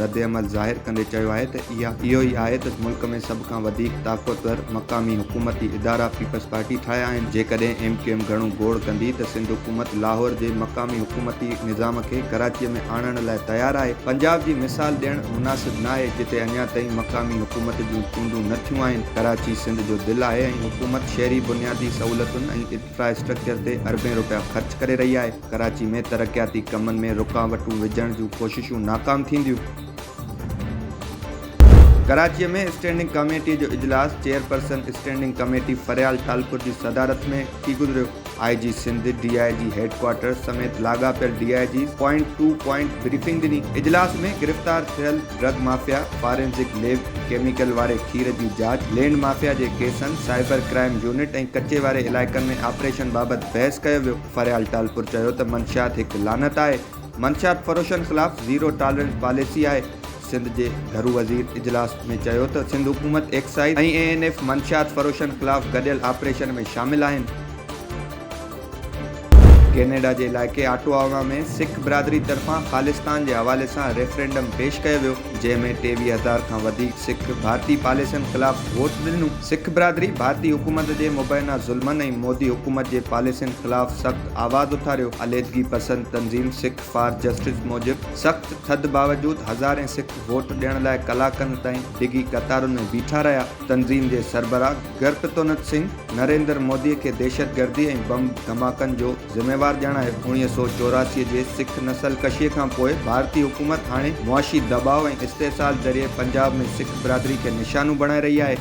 ردعمل ظاهر ڪندي چيو آهي ته اها اهو ئي آهي ته ملڪ ۾ سڀ کان وڌيڪ طاقتور مقامي حڪومتي ادارا پيپلز پارٽي ٺاهيا آهن، جيڪڏهن ايم ڪيو ايم گهڻو گوڙ ڪندي ته سنڌ حڪومت لاهور جي مقامي حڪومتي نظام کي ڪراچيء ۾ آڻڻ لاء تيار آهي، پنجاب جي مثال ڏيڻ مناسب ناهي جتي اڃا تائين مقامي حڪومت جون چونڊون نه ٿيون آهن، ڪراچي سنڌ جو دل آهي ۽ حڪومت شهري بنيادي سهولتن ۽ انفراسٽرڪچر تي اربين رپيا خرچ ڪري رهي آهي. ڪراچي ۾ ترقياتي ڪمن ۾ رڪاوٽون وجهڻ جون ڪوششون ناڪام ٿينديون. ڪراچي ۾ اسٽينڊنگ ڪاميٽي جو اجلاس chairperson standing committee Faryal Talpur جي صدارت ۾ ٿي گذريو. I G Sindh, D I G هيڊ ڪوارٽرز سميت لاڳاپيل D I Gs point to point briefing ڏني. اجلاس ۾ گرفتار ٿيل drug mafia, forensic lab, chemical واري کير جي جاچ، لينڊ مافيا جي ڪيسن، سائبر ڪرائيم يونٽ ۽ ڪچي واري علائقن ۾ آپريشن بابت بحث ڪيو ويو. فريال ٽالپر چيو ته منشيات هڪ لعنت آهي، منشيات فروشن خلاف زيرو ٽالرنس پاليسي آهي. سنڌ جي گهرو وزير اجلاس ۾ چيو ته سنڌ حڪومت ايڪسائيز ۽ اي اين ايف منشيات فروشن خلاف گڏيل آپريشن ۾ شامل آهن. ڪينيڊا جي علائقي آٽواوا ۾ سک برادري طرفان خالصتان جي حوالي سان ريفرينڊم پيش ڪيو ويو. جنهن ۾ ٽيويهه هزار کان وڌيڪ سک ڀارتي پاليسين خلاف ووٽ ڏنو. سک برادري ڀارتي حڪومت جي مبينا ظلمن ۽ مودي حڪومت جي پاليسين خلاف سخت آواز اٿاريو. عليحدگي پسند تنظيم سک فار جسٽس موجب سخت ٿڌ باوجود هزارين سک ووٽ ڏيڻ لاء ڪلاڪن تائين ڊگهي قطارن ۾ بيٺا رهيا. تنظيم جي سربراهه گرپتونت سنگهه نريندر مودي کي دهشتگردي ۽ بم ڌماڪن جو ذميوار ڄاڻايو، اڻويهه سؤ چوراسي جي سک نسل ڪشيء کان پوء ڀارتي حڪومت هاڻي معاشي دٻاء ۽ استحصال ذريعي پنجاب ۾ سک برادري کي نشانو بڻائي رهي آهي.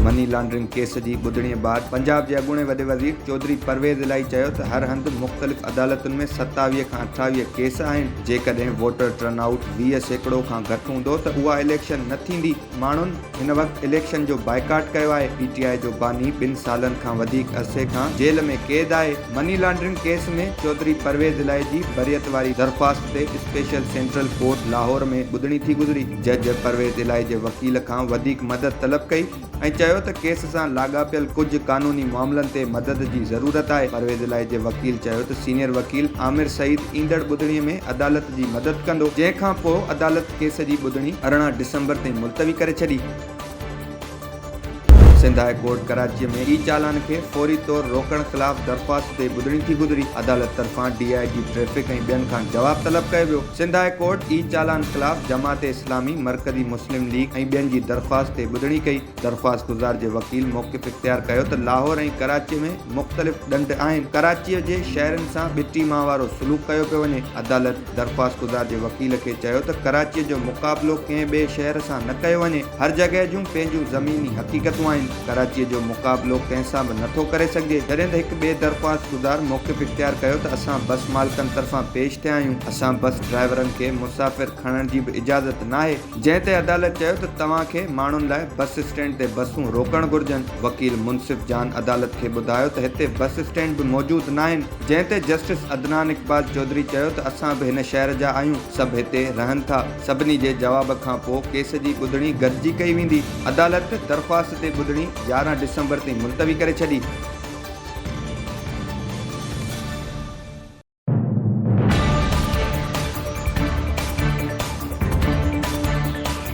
مني لانڊرنگ ڪيس جي ٻڌڻي بعد پنجاب جي اڳوڻي وڏي وزير چوڌري پرويز الاهي چيو ته هر هنڌ مختلف عدالتن ۾ ستاويهه کان اٺاويهه ڪيس آهن، جيڪڏهن ووٽر ٽرن آئوٽ ويهه سيڪڙو کان گهٽ هوندو ته اها اليڪشن نه ٿيندي. ماڻهن هن وقت اليڪشن جو بائيڪاٽ ڪيو آهي، پي ٽي آء جو باني ٻن سالن کان وڌيڪ عرصي کان جيل ۾ قيد آهي، money laundering case ۾ Chaudhry Pervaiz Elahi جي بريت واري درخواست تي اسپيشل سينٽرل ڪورٽ لاهور ۾ ٻڌڻي ٿي گذري، جج پرويز الاهي جي وڪيل کان وڌيڪ مدد طلب ڪئي ۽ چيو ته ڪيس سان لاڳاپيل ڪجهه قانوني معاملن تي مدد جي ضرورت آهي، پرويز الاهي جي وڪيل چيو ته سينيئر وڪيل عامر سعيد ايندڙ ٻڌڻي ۾ عدالت جي مدد ڪندو، جنهن کان پوء عدالت. ڪيس جي ٻڌڻي ارڙهن ڊسمبر تائين ملتوي ڪري ڇڏي. سنڌ هاء ڪورٽ ڪراچيء ۾ اي چالان کي فوري طور روڪڻ خلاف درخواست تي ٻڌڻي ٿي گذري. عدالت طرفان ڊي آء جي ٽريفڪ ۽ ٻين کان جواب طلب ڪيو ويو. سنڌ هاء ڪورٽ اي چالان خلاف جماعت اسلامي، مرڪزي مسلم ليگ ۽ ٻين جي درخواست تي ٻڌڻي ڪئي. درخواست گذار جي وڪيل موقف اختيار ڪيو ته لاهور ۽ ڪراچيء ۾ مختلف ڏنڊ آهن، ڪراچيء جي شهرين سان ٻٽي مان وارو سلوڪ ڪيو پيو وڃي. عدالت. درخواستگذار جي وڪيل کي چيو ته ڪراچيء جو مقابلو ڪنهن ٻئي شهر سان نه ڪيو وڃي، هر جڳهه جون پنهنجون زميني حقيقتون آهن، ڪراچيء جو مقابلو ڪنهن سان به نٿو ڪري سگهجي، جڏهن ته هڪ ٻئي درخواستگذار موقف اختيار ڪيو ته اسان بس مالڪن طرفان پيش ٿيا آهيون، اسان بس ڊرائيورن کي مسافر کڻڻ جي به اجازت ناهي، جنهن تي عدالت چيو ته توهان کي ماڻهن لاء بس اسٽينڊ تي بسون روڪڻ گهرجن، وڪيل منصف جان عدالت کي ٻڌايو ته هتي بس اسٽينڊ به موجود ناهن، جنهن تي جسٽس عدنان اقبال چوڌري چيو ته اسان به هن شهر جا آهيون، سڀ هتي رهن ٿا، سڀني جي جواب کان پوء ڪيس جي ٻڌڻي گڏجي ڪئي ويندي. عدالت درخواست تي ٻڌڻي يارهن ڊسمبر تائين ملتوي ڪري ڇڏي.